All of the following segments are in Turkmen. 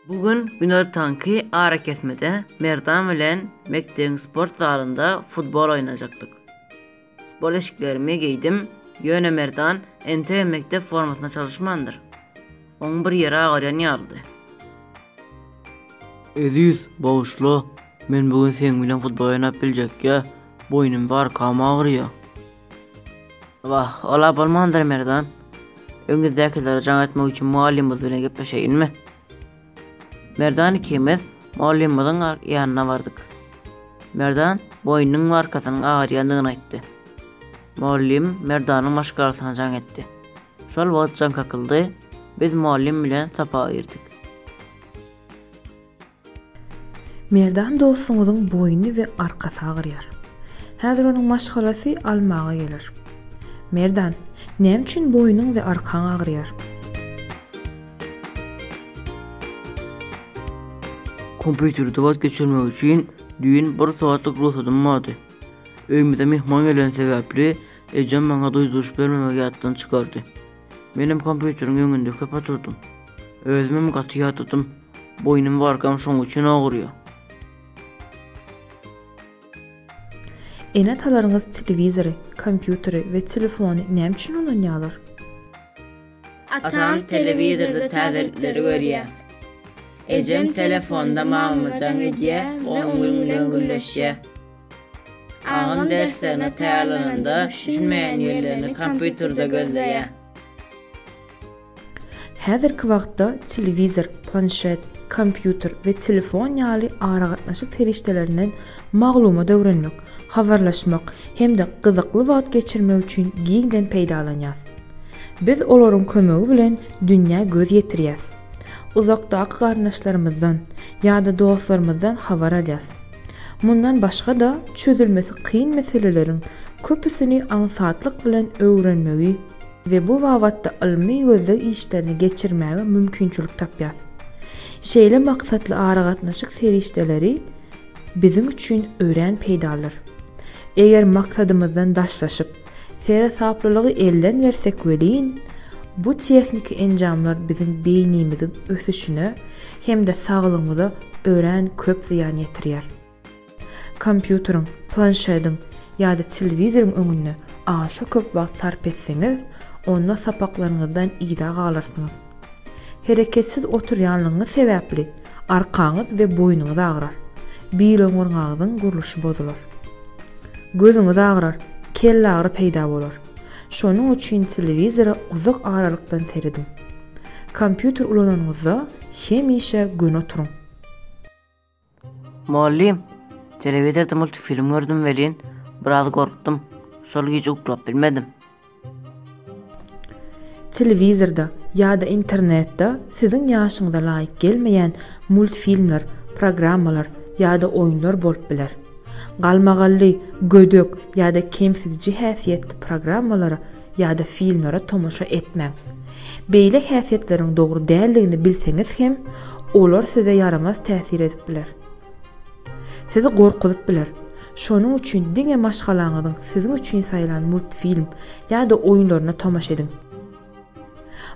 Bu gün günortanky arakesmede Merdan bilen mekdebiň sport zalynda futbol oýnajakdyk. Sport eşiklerimi geýdim, ýöne Merdan entegem mekdep formasyna çalyşmandyr. Oň bir ýeri agyrýan ýalydy. Eziz, bagyşla, men bu gün seň bilen futbol oýnap biljekýä, boýnum barkam agyrýa. Wah, ol-a bolmandyr, Merdan. Öňüňizdäkilere jaň etmek üçin mugallymyz bilen gepleşeýinmi? Merdan ikimiz mugallymymyzyň ýanyna bardyk. Merdan boýnunyň we arkasynyň agyrýandygyny aýtdy. Mugallym Merdanyň maşgalasyna jaň etdi. Şol wagt jaň kakyldy, biz mugallym bilen sapaga girdik. Merdan dostuňyzyň boýny we arkasy agyrýar. Häzir onuň maşgalasy almaga geler. Merdan, näme üçin boýnuň we arkaň agyrýar? Kompýuterde wagt geçirmek üçin düýn bir sagatlyk rugsatym bardy. Öýümize myhman geleni sebäpli, ejem maňa duýduryş bermemegi ýatdan çykardy. Menem kompýuteriň öňünde köp oturdym. Özümem gaty ýadadym. Boýnum gorkam şoň üçin ogurýa. Ene-atalaryňyz telewizory, kompýuteri we telefony näme üçin ulanýarlar? Atam telewizorda täzelikleri görýär. Ejem telefonda mama-jaň edýär we onuň bilen gürleşýär. Agam derslerine taýýarlananda düşünmeýän ýerlerini kompýuterde gözleýär. Häzirki wagtda telewizor, planşet, kompýuter we telefon ýaly aragatnaşyk serişdelerinden maglumat öwrenmek, habarlaşmak hem-de gyzykly wagt geçirmek üçin giňden peýdalanýas. Biz olaryň kömegi bilen dünýä göz ýetirýäs. Uzakdaky garyndaşlarymyzdan ýa-da dostlarymyzdan habar alýas. Mundan başga-da, çözülmesi kyn meseleleriň köpüsini aňsatlyk bilen öwrenmegi, we bu babatda ylmy gözleg işlerini geçirmäge mümkinçilik tapýar. Şeýle maksatly aragatnaşyk serişdeleri biziň üçin örän peýdalydyr. Eger maksadymyzdan daşlaşyp, seresaplylygy elden bersek welin, bu tehniki enjamlar biziň beýnimiziň ösüşine hem-de saglygymyza örän köp zyýan ýetirýär. Kompýuteriň, planşediň ýa-da telewizoryň öňünde aşa köp wagt sarp etseňiz, onda sapaklaryňyzdan yza galarsyňyz. Hereketsiz oturýanlygyňyz sebäpli arkaňyz we boýnuňyz agrar, biloňurgaňyzyň gurluşy bozular. Gözüňiz agrar, kellagyry peýda bolar. Şonuň üçin telewizora uzak aralykdan serediň. Kompýuter ulananyňyzda hemişe göni oturyň. Mugallym, telewizorda multfilm gördüm welin, biraz gorkdum. Şol gije uklap bilmedim. Telewizorda ýa-da internetde siziň ýaşyňyza laýyk gelmeýän multfilmler, programmalar ýa-da oýunlar bolup biler. Galmagally, gödek ýa-da kemsidiji häsiýetli programmalara ýa-da filmlere tomaşa etmäň. Beýle häsiýetleriň dogry däldigini bilseňiz hem, olar size ýaramaz täsir edip biler. Sizi gorkuzyp biler. Şonuň üçin diňe maşgalaňyzyň siziň üçin saýlan multfilm ýa-da oýunlaryna tomaşa ediň.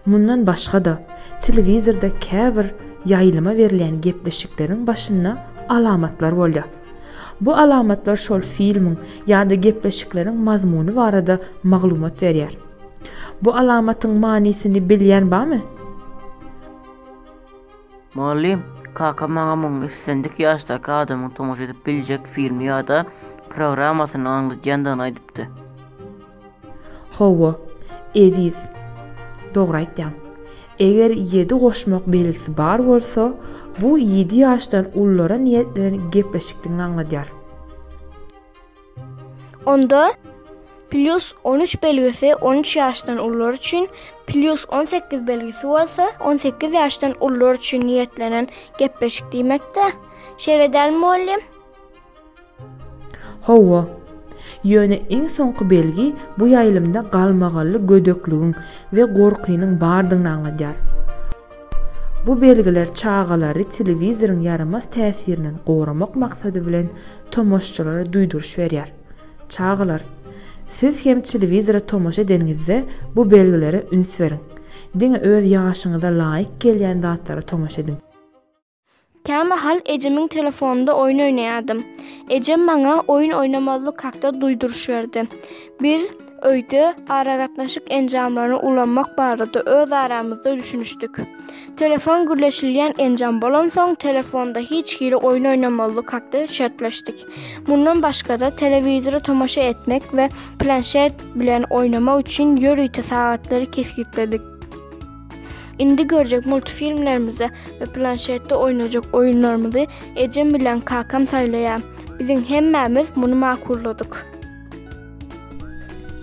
Mundan başga-da, telewizorda käbir ýaýlyma berilýän gepleşikleriň başynda alamatlar bolýar. Bu alamatlar şol filmiň ýa-da gepleşikleriň mazmuny barada maglumat berýär. Bu alamatyň manysyny bilýän barmy? Mugallym, Kaka maňa muň islendik ýaşdaky adamyň tomaşa edip biljek filmi ýa-da programmasyny aňladýandygyny aýdypdy. Hawa, eziz, dogry aýtýaň. Eger ýedi goşmak belgisi bar bolsa, bu ýedi ýaşdan ululara niýetlenen gepleşikdigini aňladýar. Onda, plýus on üç belgisi on üç ýaşdan ulular üçin, plýus on sekiz belgisi bolsa on sekiz ýaşdan ulular üçin niýetlenen gepleşik diýmek-dä. Şeýle dälmi, mugallym? Hawa. Ýöne iň soňky belgi bu ýaýlymda galmagally gödekligiň we gorkynyň bardygyny aňladýar. Bu belgiler çagalary telewizoryň ýaramaz täsirinden goramak maksady bilen tomaşçylara duýduryş berýär. Çagalar, siz hem telewizora tomaşa edeniňizde bu belgilere üns beriň. Diňe öz ýaşyňyza laýyk gelýän zatlara tomaşa ediň. Kämahal ejemiň telefonynda oýun oýnaýardym. Ejem maňa oýun oýnamazlyk hakda duýduryş berdi. Biz öýde aragatnaşyk enjamlaryny ulanmak barada öz aramyzda düşünişdik. Telefon gürleşilýän enjam bolansoň, telefonda hiç hili oýun oýnamazlyk hakda şertleşdik. Mundan başga-da, telewizora tomaşa etmek we planşet bilen oýnamak üçin ýörite sagatlary kesgitledik. Indi görjek multfilmlerimizi we planşetde oýnajak oýunlarymyzy ejem bilen kakam saýlaýar. Biziň hemmämiz muny makulladyk.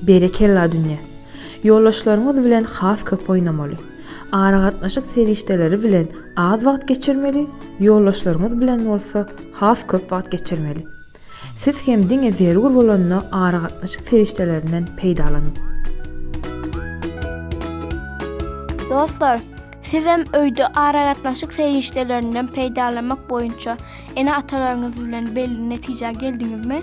Berekella dünýe. Ýoldaşlaryňyz bilen has köp oýnamaly. Aragatnaşyk serişdeleri bilen az wagt geçirmeli, ýoldaşlaryňyz bilen bolsa has köp wagt geçirmeli. Siz hem diňe zerur bolanda aragatnaşyk serişdelerinden peýdalanyň. Dostlar, siz hem öýde aragatnaşyk serişdelerinden peýdalanmak boýunça ene-atalaryňyz bilen belli netijä geldiňizmi?